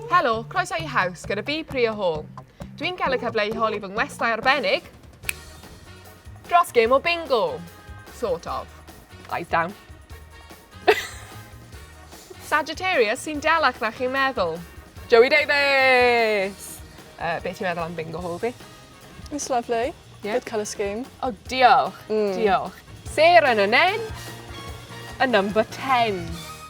Helo, croeso i Haws gyda fi Priya Hall. Dwi'n cael y cyfle i holi fy ngwestai arbennig dros gêm o bingo. Sort of. Eyes down. Sagittarius sy'n delach na chi'n meddwl. Joey Davies! Uh, beth ti'n meddwl am bingo hol fi? It's lovely. Yeah. Good colour scheme. Oh, diolch. Mm. Diolch. Sarah yn y nen. A number 10.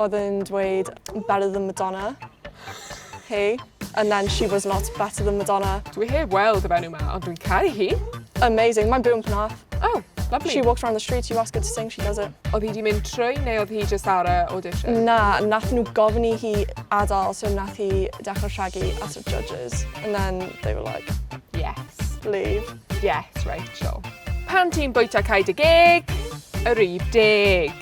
Oedd yn dweud better than Madonna. Hey. And then she was not better than Madonna. Dwi heb weld y fenyw ma, ond dwi'n caru hi. Amazing, mae'n byw yn Penarth. Oh, lovely. She walks around the streets, you ask her to sing, she does it. Oedd hi wedi mynd trwy neu oedd hi just ar y audition? Na, nath nhw gofyn i hi adael, so nath hi dechrau rhagu at y judges. And then they were like, yes. Leave. Yes, Rachel. Pan ti'n bwyta cae dy geg, yr rif deg.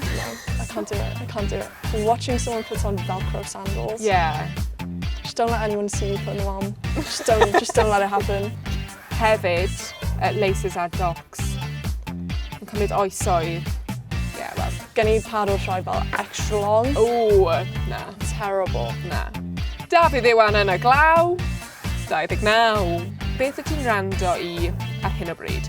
No, I can't do it, I can't do it. Watching someone put on velcro sandals. Yeah. Just don't let anyone see you putting them on. Just don't, just don't let it happen. Hefyd, uh, laces a docs. Yn cymryd oesoedd. Yeah, well. Gen i par o'r rhai fel extra long. Ooh, na. Terrible. Na. Dafydd Iwan yn y glaw. 29. Beth y ti'n rando i ar hyn o bryd?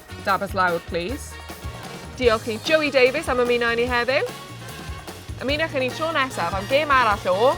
Dafis lawr, plîs. Diolch i Joey Davies am ymuno i ni heddiw. Ymunwch i ni tro nesaf am gêm arall o...